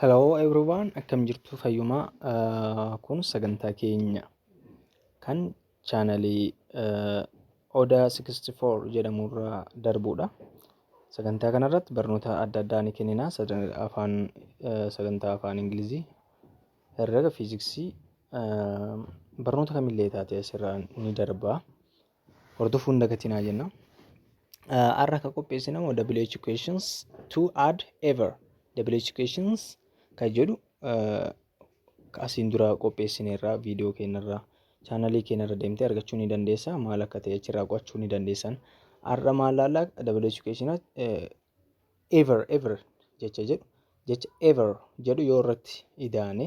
Hello everyone, akkam jirtu fayyuma. Ah, Kun sagantaa keenya kan chaanalii eh, Oda 64 jedhamurraa darbuudha. Sagantaa kanarratti barnoota adda addaa ni kennina. Sadan- Afaan eh, sagantaa afaan Ingilizii, herrega, fiiziksii, eh, barnoota kamillee taate asirraa ni darba. hordofuu hin dagatinaa jenna. Har'a kan qopheessine immoo WH questions to add ever WH questions kan jedhu asiin dura qopheessineerra viidiyoo keenyarra chaanalii keenyarra deemtee argachuu ni dandeessa maal akka ta'e achirraa qo'achuu ni dandeessan. Har'a maal laallaa WH questions ever ever jecha jedhu jecha ever jedhu yoo irratti idaane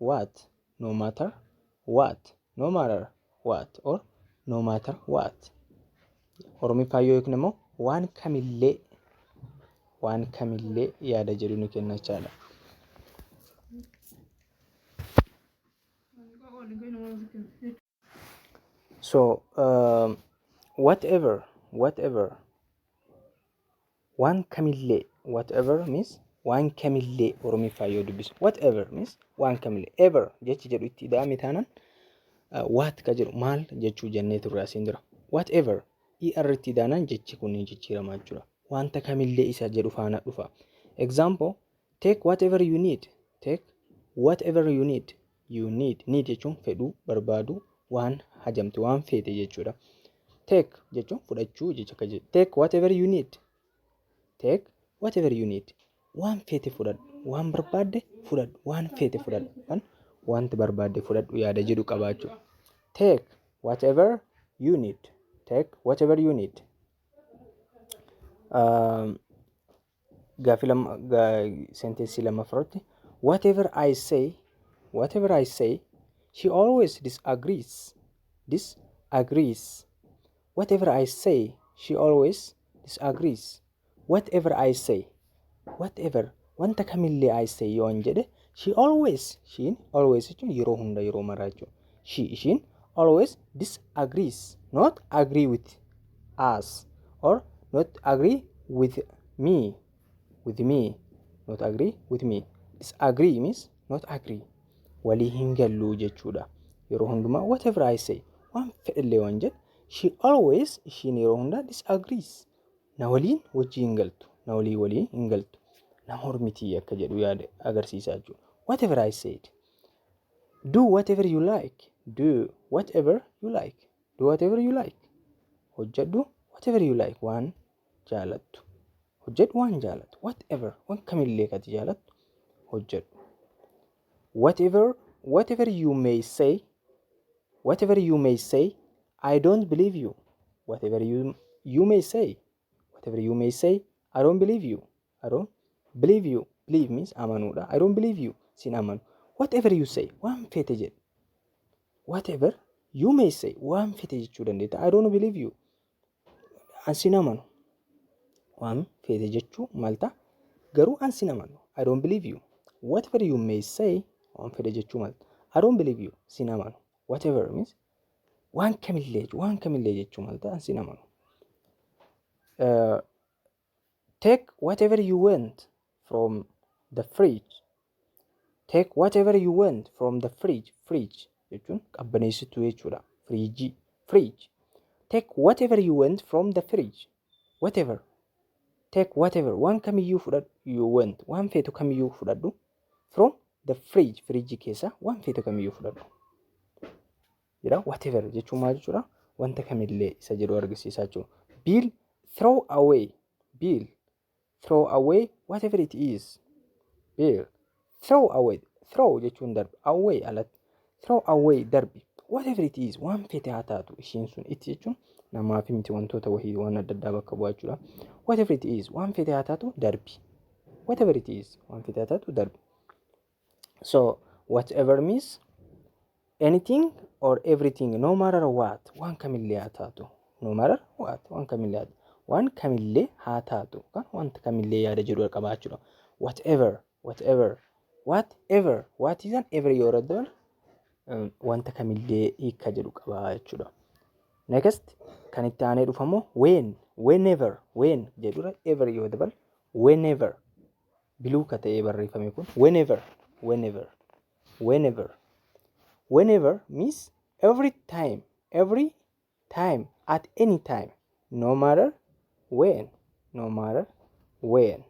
what, no matter what, no matter what or no matter what. Oromiffaa yoo hiikne immoo waan kamillee waan kamillee yaada jedhu ni kenna jechaadha. So, um, whatever, whatever, waan kamillee, whatever means waan kamillee Oromiffaa yoo dubbisu, whatever means waan kamillee, ever jechi jedhu itti ida'ame taanaan uh, what ka jedhu maal jechuu jennee turre asiin dura. Whatever, er itti ida'anaan jechi kun ni jijjiirama jechuudha. Wanta kamillee isa jedhu faana dhufa. Example, take whatever you need, take whatever you need, you need need jechuun fedhuu barbaadu waan hajamte waan feete jechuudha take jechuun fudhachuu jecha akka jedhu take whatever you need take whatever you need waan feete fudhadhu waan barbaadde fudhadhu waan feete fudhadhu kan wanti barbaadde fudhadhu yaada jedhu qabaachuu take whatever you need take whatever you need um, Gaaffii lama senteensii lammaffaa irratti whatever I say whatever I say she always disagrees disagrees whatever I say she always disagrees whatever I say whatever wanta kamillee I say yoon jedhe She always ishiin always jechuun yeroo hunda yeroo maraa jechuudha. She ishiin always disagrees not agree with us or not agree with me with me not agree with me disagree means not agree walii hin galluu jechuudha. Yeroo hundumaa whatever I say waan fedhillee waan jedhu she always ishiin yeroo hunda disagrees na waliin wajjii hin galtu na walii waliin hin galtu na mormitii akka jedhu yaada agarsiisaa jechuudha whatever I said do whatever you like do whatever you like do whatever you like hojjedhu whatever you like waan jaalattu hojjedhu waan jaalattu whatever waan kamillee kati jaalattu hojjedhu Whatever whatever you may say whatever you may say I don't believe you whatever you you may say whatever you may say I don't believe you I don't believe you believe means amanuudha I don't believe you sin amanu whatever you say waan fete jedhe whatever you may say waan fete jechuu dandeetta I don't believe you an sin amanu waan feete jechuu malta garuu an sin amanu I don't believe you whatever you may say waan fedhe jechuu malta I don't believe you sin amanu whatever means waan kamillee waan kamillee jechuu malta an sin amanu Take whatever you want from the fridge. Take whatever you want from the fridge. Fridge jechuun qabbaneessituu jechuudha. Firiijii. Fridge. Take whatever you want from the fridge. Whatever. Take whatever. Waan kamiyyuu fudhadhu. You want. Waan feetu kamiyyuu fudhadhu. From the fridge. Firiijii keessa waan feetu kamiyyuu fudhadhu. jedha whatever jechuun maal jechuudha wanta kamillee isa jedhu argisiisaa jechuudha biil throw away biil throw away whatever it is biil throw away throw jechuun darbi away alatti throw away darbi whatever it is waan fete haa taatu ishiin sun itti jechuun namaaf miti wantoota wahii waan adda addaa bakka bu'aa jechuudha whatever it is waan fete haa taatu darbi whatever it is waan fete haa taatu darbi so whatever means anything or everything no matter what waan kamillee haa taatu no matter what waan kamillee haa taatu waan kamillee haa taatu kan wanta kamillee yaada jedhu qabaachuudha whatever whatever whatever what is an ever yoo raddoon wanta kamillee hiika jedhu qaba jechuudha. Next kan itti aanee dhufamu when whenever when jedhura ever yoo dabal whenever biluu ka ta'ee barreeffame kun whenever whenever whenever whenever means every time every time at any time no matter when no matter when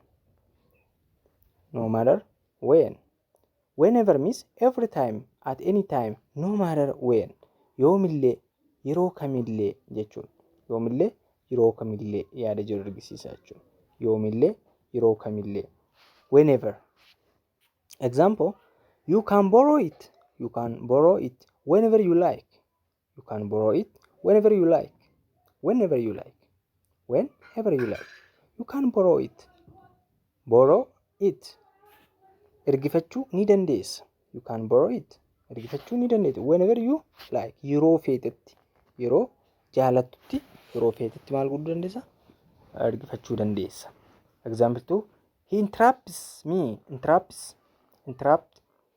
no matter when Whenever means every time, at any time, no matter when yoomillee, yeroo kamillee jechuun yoomillee, yeroo kamillee yaada jedhu argisiisa jechuudha. Yoomillee, yeroo kamillee. Whenever. Example, You can borrow it. You can borrow it whenever you like. You can borrow it whenever you like. Whenever you like. Whenever you like. You can borrow it. Borrow it. Ergifachuu ni dandeessa. You can borrow it. Ergifachuu ni dandeessa. Whenever you like. Yeroo feetetti. Yeroo jaalattutti. Yeroo feetetti maal godhuu dandeessa? Ergifachuu dandeessa. Example 2. He interrupts me. Interrupts. Interrupt.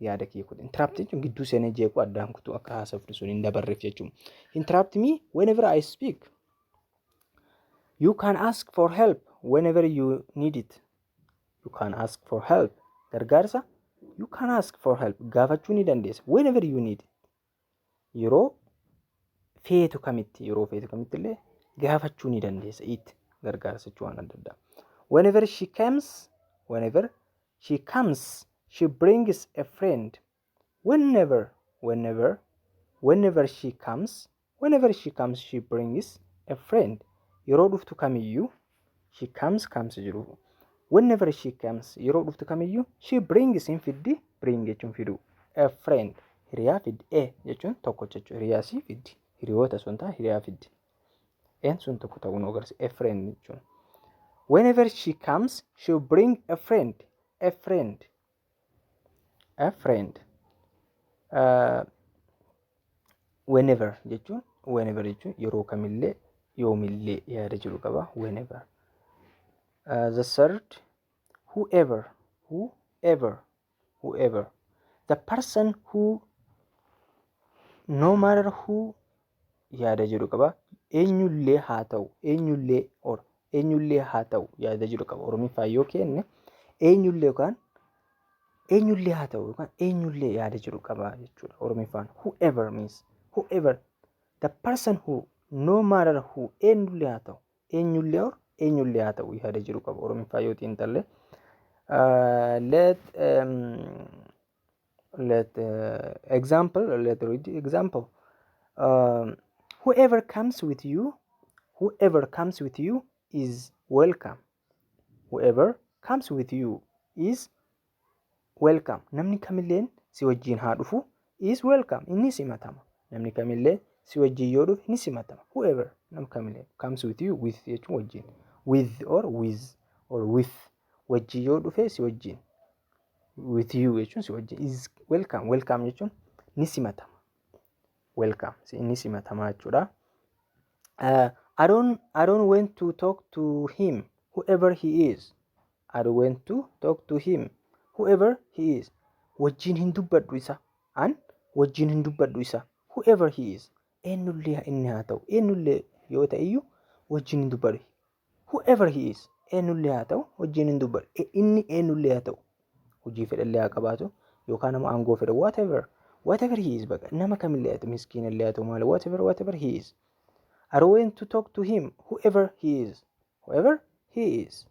yaada kiyya kun interrupt jechuun gidduu seenee jeequu addaan kutuu akka haasoftu sun hin dabarreef jechuun interrupt me whenever I speak you can ask for help whenever you need it you can ask for help gargaarsa you can ask for help gaafachuu ni dandeessa whenever you need it yeroo feetu kamitti yeroo feetu kamitti illee gaafachuu ni dandeessa itti gargaarsa jechuu waan adda addaa. Whenever she comes, whenever she comes, she brings a friend. Whenever, whenever, whenever she comes, whenever she comes, she brings a friend. Yeroo dhuftu kamiyyuu she comes comes jiru whenever she comes yeroo dhuftu kamiyyuu she brings hin fiddi bring jechuun fidu a friend hiriyaa fiddi a jechuun tokko jechuudha hiriyaa si fiddi hiriyoota sun ta'a hiriyaa fiddi n sun tokko ta'uu nu agarsiisa a friend jechuun whenever she comes she bring a friend a friend A friend. Uh, whenever jechuun whenever jechuun yeroo kamillee yoomillee yaada jiru qaba whenever. Uh, the third whoever whoever whoever the person who no matter who yaada jedhu qaba. Eenyullee haa ta'u, eenyullee or eenyullee haa ta'u yaada jedhu qaba. Oromiffaa yoo kenne eenyullee yookaan eenyullee haa ta'u yookaan eenyullee yaada jedhu qaba jechuudha. Oromiffaan whoever means whoever the person who no matter who eenyullee haa ta'u eenyullee or eenyullee haa ta'u yaada jedhu qaba. Oromiffaa yoo xiinxalle. Uh, let um, let uh, example let read example um, whoever comes with you whoever comes with you is welcome whoever comes with you is welcome namni kamilleen si wajjiin haa dhufu is welcome inni simatama namni kamillee si wajjiin yoo dhufe ni simatama whoever nam kamillee comes with you with jechuun wajjiin with or with or with wajjii yoo dhufe si wajjiin with you jechuun si wajjin is welcome welcome jechuun ni simatama welcome si- ni simatama jechuudha uh, I don't I don't want to talk to him whoever he is I don't want to talk to him whoever he is wajjin hin dubbadhu isa an wajjin hin dubbadhu isa whoever he is eenyullee inni haa ta'u eenyullee yoo ta'e iyyuu wajjin hin dubbadhu whoever he is eenyullee haa ta'u wajjin hin dubbadhu E- inni eenyullee haa ta'u hojii fedhallee haa qabaatu yookaan nama aangoo fedha whatever whatever he is baqa nama kamillee haa ta'u miskiinallee haa ta'u maal whatever whatever he is are going to talk to him whoever he is whoever he is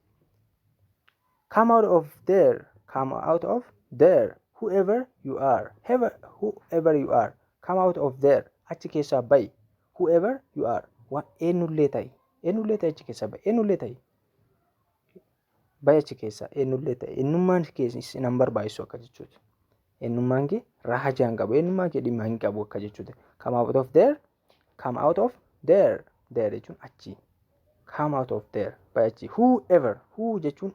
come out of there come out of there whoever you are Whoever- whoever you are come out of there achi keessaa bayi whoever you are waan eenyullee ta'i Eenyullee ta'e achi keessaa ba'i. Eenyullee ta'e. Ba'i achi keessaa eenyullee ta'e. Eenyummaan kee isin hin barbaachisu akka jechuuti. Eenyummaan kee raajaa hin qabu. Eenyummaa kee dhimma hin qabu akka jechuuti. Come out of there. Come out of there. There jechuun achi. Come out of there. Ba'i achi. Whoever. Who jechuun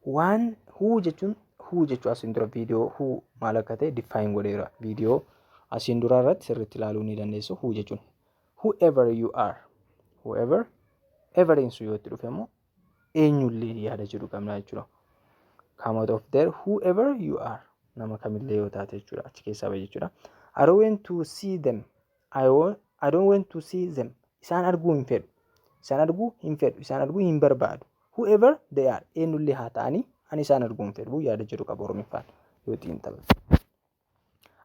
waan who jechuun who jechuu asiin dura viidiyoo who maal akka ta'e diffaayin godheera. Viidiyoo asiin dura irratti sirriitti ilaaluu ni dandeessu. Who jechuun whoever you are whoever everiin sun yoo itti dhufe immoo eenyullee yaada jedhu qabna jechuudha. Come out of there whoever you are nama kamillee yoo taate jechuudha achi keessaa bahe jechuudha. I don't want to see them I, want, I don't want to see them isaan arguu hin fedhu isaan arguu hin fedhu isaan arguu hin barbaadu whoever they are eenyullee haa ta'anii ani isaan arguu hin fedhu yaada jedhu qaba oromiffaan yoo xiinxalu.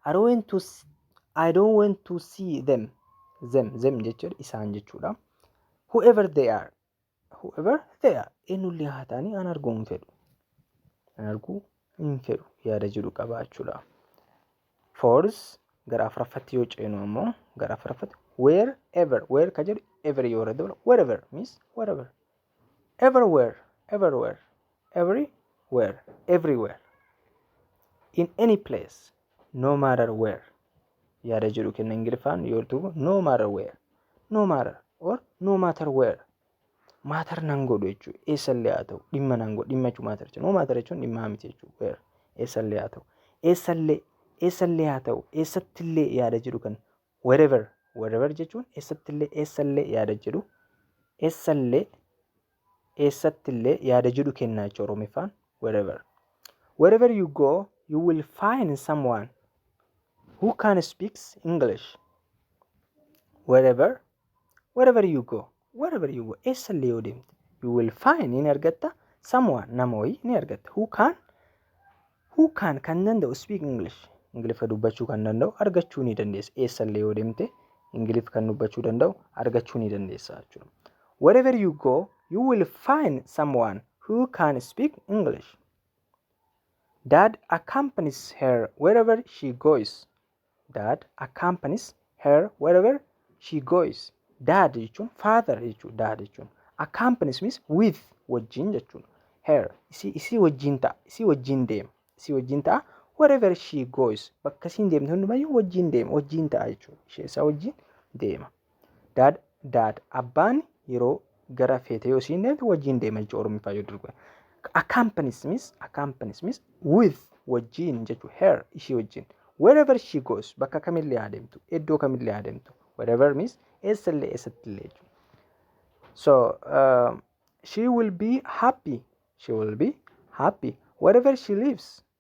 I don't want to s- I don't want to see them them them jechuudha isaan jechuudha whoever they are whoever they are eenyullee haa ta'anii an arguu hin fedhu an arguu hin fedhu yaada jedhu qaba jechuudha fourth gara afuraffatti yoo ceenu ammoo gara afuraffatti wherever where ka jedhu ever yoo irra dabala wherever means wherever everywhere everywhere everywhere everywhere in any place no matter where yaada jedhu kenna ingiliffaan yoo duuba no matter where no matter or no matter where maatar nan godhu jechuu eessallee haa ta'u dhimma nan godhu dhimma jechuu maatar jechuu no maatar jechuun dhimmaa miti jechuu where eessallee haa ta'u eessallee eessallee haa ta'u eessattillee yaada jedhu kan wherever wherever jechuun eessattillee eessallee yaada jedhu eessallee eessattillee yaada jedhu kennaa jechuudha oromiffaan wherever wherever you go you will find someone who can speaks english wherever wherever you go wherever you go eessa illee yoo deemte you will find ni argatta someone nama wayii ni argatta who can who can kan danda'u speak english ingiliffa dubbachuu kan danda'u argachuu ni dandeessa eessa illee yoo deemte ingiliffa kan dubbachuu danda'u argachuu ni dandeessa jechuudha wherever you go you will find someone who can speak english dad accompanies her wherever she goes Dad accompanies her wherever she goes. Dad jechuun father jechuudha. Dad jechuun accompanies means with wajjin jechuudha. Her isii isii wajjin ta'a. Isii wajjin deema. Isii wajjin ta'a. Wherever she goes bakka isiin deemtu hundumayyuu wajjin deema. Wajjin ta'a jechuudha. Ishee isaa wajjin deema. Dad, dad, abbaan yeroo gara feetee yoo siin deemte wajjin deema jechuudha Oromiffaa yoo durbe. Accompanies means, accompanies means with wajjin jechuudha her ishii wajjin. Wherever she goes bakka kamillee haa deemtu, iddoo kamillee haa deemtu. Wherever means eessallee eessattillee jechuudha. So uh, she will be happy, she will be happy wherever she lives.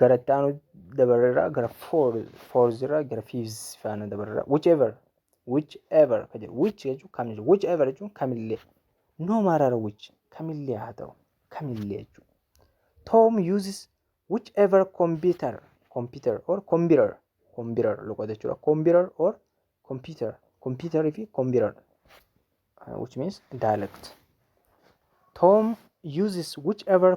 gara itti aanu dabarreerra gara fourth irra gara fifth faana dabarreerra whichever whichever ka jedhu which jechuun kam jechuudha whichever jechuun kamillee no matter which kamillee haa ta'u kamillee jechuudha Tom uses whichever computer computer or computer computer loqoda jechuudha computer or computer computer fi computer uh, which means dialect Tom uses whichever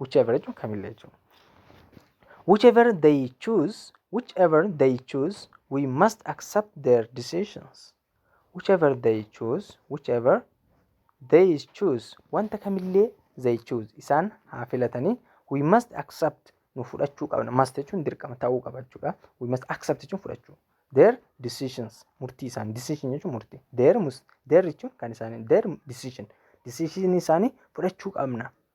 whichever jechuun kamillee jechuudha. Whichever they choose, whichever they choose, we must accept their decisions. Whichever they choose, whichever they choose, wanta kamillee they choose isaan haa filatanii we must accept nu fudhachuu qabna. Must jechuun dirqama ta'uu qaba jechuudha. We must accept jechuun fudhachuu. Their decisions murtii isaanii decision jechuun murtii. Their mus their jechuun kan isaanii their decision decision isaanii fudhachuu qabna.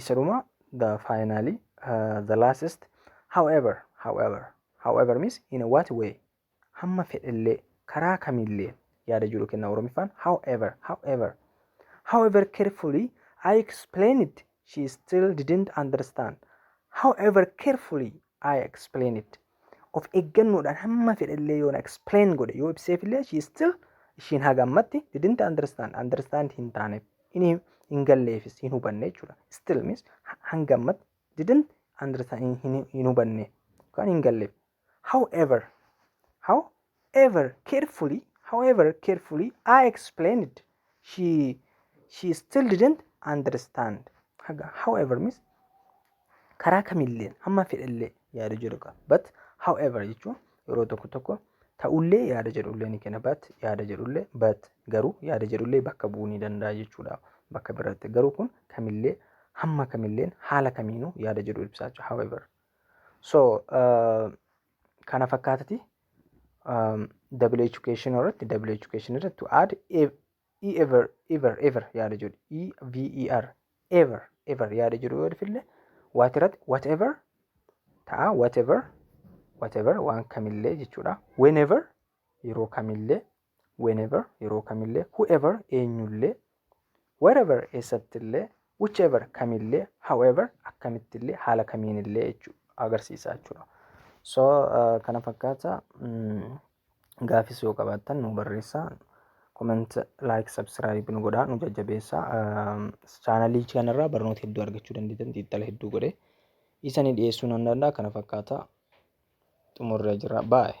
isa dhuma the finally uh, the last however however however means in what way hamma fedhellee karaa kamillee yaada jedhu kenna oromiffaan however however however carefully I explained she still didn't understand however carefully I explain it. Of eeggannoodhaan hamma fedhe illee yoo na explain godhe yoo ibseef illee she still ishiin haga ammatti didn't understand understand hin taaneef hin hin galleefis hin hubanne jechuudha. Still means hanga ammatti didn't understand hin, hin, hin hubanne yookaan hin galleef. However, how ever carefully, however carefully I explained, she she still didn't understand. Haga however means karaa kamilleen amma fedhallee yaada jedhu qaba. But however jechuun yeroo tokko tokko ta'ullee yaada jedhullee ni kenna. But yaada jedhullee but garuu yaada jedhullee bakka bu'uu ni danda'a jechuudha. Bakka biraatti garuu kun kamillee hamma kamilleen haala kamiinuu yaada jedhu ibsaa jechuudha. However. So uh, kana fakkaatati um, double education irratti double education irratti to add ev- e ever ever ever yaada jedhu e v e r ever ever yaada jedhu yoo dhufille waati irratti whatever ta'a whatever whatever waan kamillee jechuudha whenever yeroo kamillee whenever yeroo kamillee whoever eenyullee wherever eessattillee whichever kamillee however akkamittillee haala kamiinillee jechuu agarsiisaa jechuudha. So uh, kana fakkaata mm, gaafis yoo qabaattan nu barreessaa comment like subscribe nu godhaa nu jajjabeessaa uh, chaanalii kanarraa barnoota hedduu argachuu dandeettan xiinxala hedduu godhee isanii dhiyeessuu nan danda'a kana fakkaata xumurree jira baay'ee.